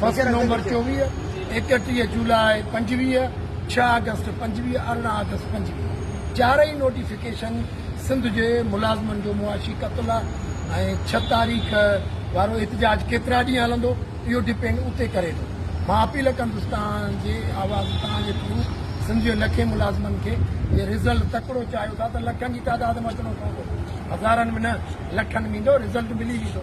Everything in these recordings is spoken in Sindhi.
بس نومبر چوويهه، ايڪٽيهه جولاء پنجويهه، ڇهه آگسٽ پنجويهه، ارڙهن آگسٽ پنجويهه چارئي نوٽيفڪيشن سنڌ جي ملازمن جو معاشي قتل ۽ ڇهه تاريخ وارو احتجاج ڪيترا ڏينهن هلندو اهو ڊپينڊ اتي ڪري ٿو مان اپيل ڪندس توهان جي آواز توهان جي ٿرو سنڌ جي لکين ملازمن کي جي رزلٽ تڪڙو چاهيو ٿا ته لکن جي تعداد ۾ اچڻو پوندو هزارن ۾ نه لکن ۾ ايندو رزلٽ ملي ويندو.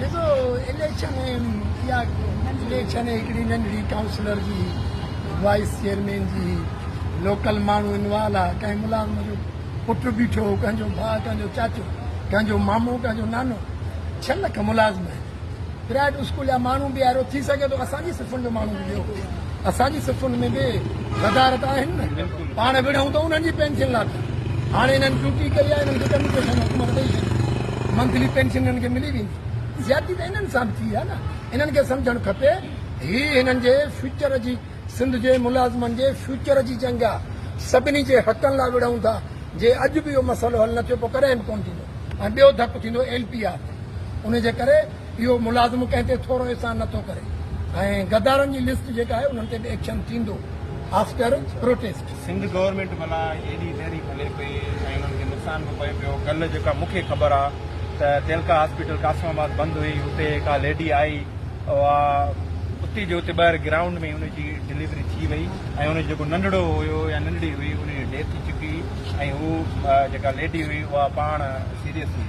ڏسو اليڪشن اها اليڪشن هڪڙي ننڍڙي ڪائونسلر جي وائيس چيئرمين جي لوڪل ماڻهو انوالو آ ڪنهن ملازم جو پٽ بيٺو ڪنهن جو ڀاء ڪنهن جو چاچو ڪنهن جو مامو ڪنهن جو نانو ڇهه لک ملازم آهن پرائيويٽ اسڪول جا ماڻهو به آهرو ٿي سگهي ٿو اسان جي صفن جو ماڻهو به ويو اسان جي صفن ۾ به غدارت آهن نه پاڻ وڙهون ته انهن جي پينشن لا ٿا هاڻي انهن ڊيوٽي ڪئي آهي انهن کي ڪميشن حڪومت ڏئي ڇڏي منٿلي پينشن انهن کي ملي ويندي زيادتي ته انهن سان به ٿي آهي نه انهن کي سمجهڻ کپي هي هنن جي فيوچر جي سنڌ جي ملازمن جي فيوچر جي جنگ آهي سڀني جي حقن لا وڙهون ٿا جي اڄ به اهو مسئلو حل نه ٿيو پوء ڪڏهن به ڪونه ٿيندو ۽ ٻيو ڌڪ ٿيندو ايل پي آر تي ان جي ڪري اهو ملازم ڪنهن تي ٿورو احسان نه ٿو ڪري ۽ غدارن جي لسٽ جيڪا آهي انهن تي به ايڪشن ٿيندو آفٽر پروٽيسٽ. سنڌ گورنمينٽ ڀلا ايڏي تحريڪ هلي پئي ۽ انهن کي نقصان به پئي پيو ڪلهه جيڪا مون کي خبر آ ته تيلڪا هاسپيٽل قاسم آباد بند هئي اتي ڪا ليڊي آئي اها اتي جي اتي ٻاهر گرائونڊ ۾ ئي ان جي ڊليوري ٿي وئي ۽ ان جو جيڪو ننڍڙو هيو يا ننڍڙي هئي انهي جي ڊيٿ ٿي چڪي ۽ هو جيڪا ليڊي هئي اها پاڻ سيريس هئي.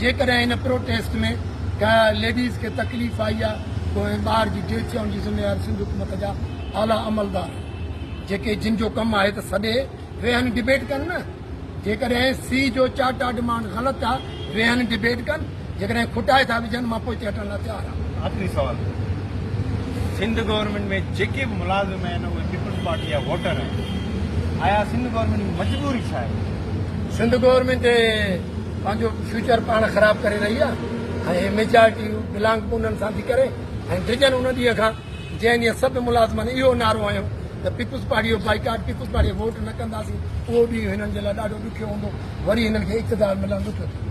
جيڪڏهن ان پروٽيسٽ ۾ ڪنهن ليڊيز کي تڪليف آئي آهي ته انهي ٻار جي ڊيٿ ٿيڻ جي ذميوار سنڌ حڪومت جا اعليٰ عملدار آهن جيڪي جن جو ڪم آهي ته سڏي ويهن ڊبيٽ ڪن نه جيڪڏهن سي جو چارٽا ڊمانڊ غلط آهي ويهن ڊبيٽ ڪن جيڪڏهن کٽائي ٿا وجهن مان پوئتي هٽڻ لاء تيار آهيان. آخري سوال سنڌ گورنمينٽ ۾ جيڪي به ملازم آهن اهي پيپلز پارٽي جا ووٽر آهن آيا سنڌ گورنمينٽ جي مجبوري ڇا آهي؟ سنڌ گورنمينٽ پنهنجو فيوچر پاڻ خراب ڪري رهي آهي ۽ هي ميجارٽي بلانگ ڪو انهن سان ٿي ڪري ۽ ڊڄن ان ڏينهن کان جنهن ڏينهن سڀ ملازمن اهو نعرو هنيو ته پيپلز پارٽي جو بائيڪاٽ پيپلز پارٽي ووٽ نه ڪنداسين اهو ڏينهن هنن جي لاء ڏاڍو ڏکيو هوندو وري هنن کي اقتدار ملڻ ڏکيو ٿيندو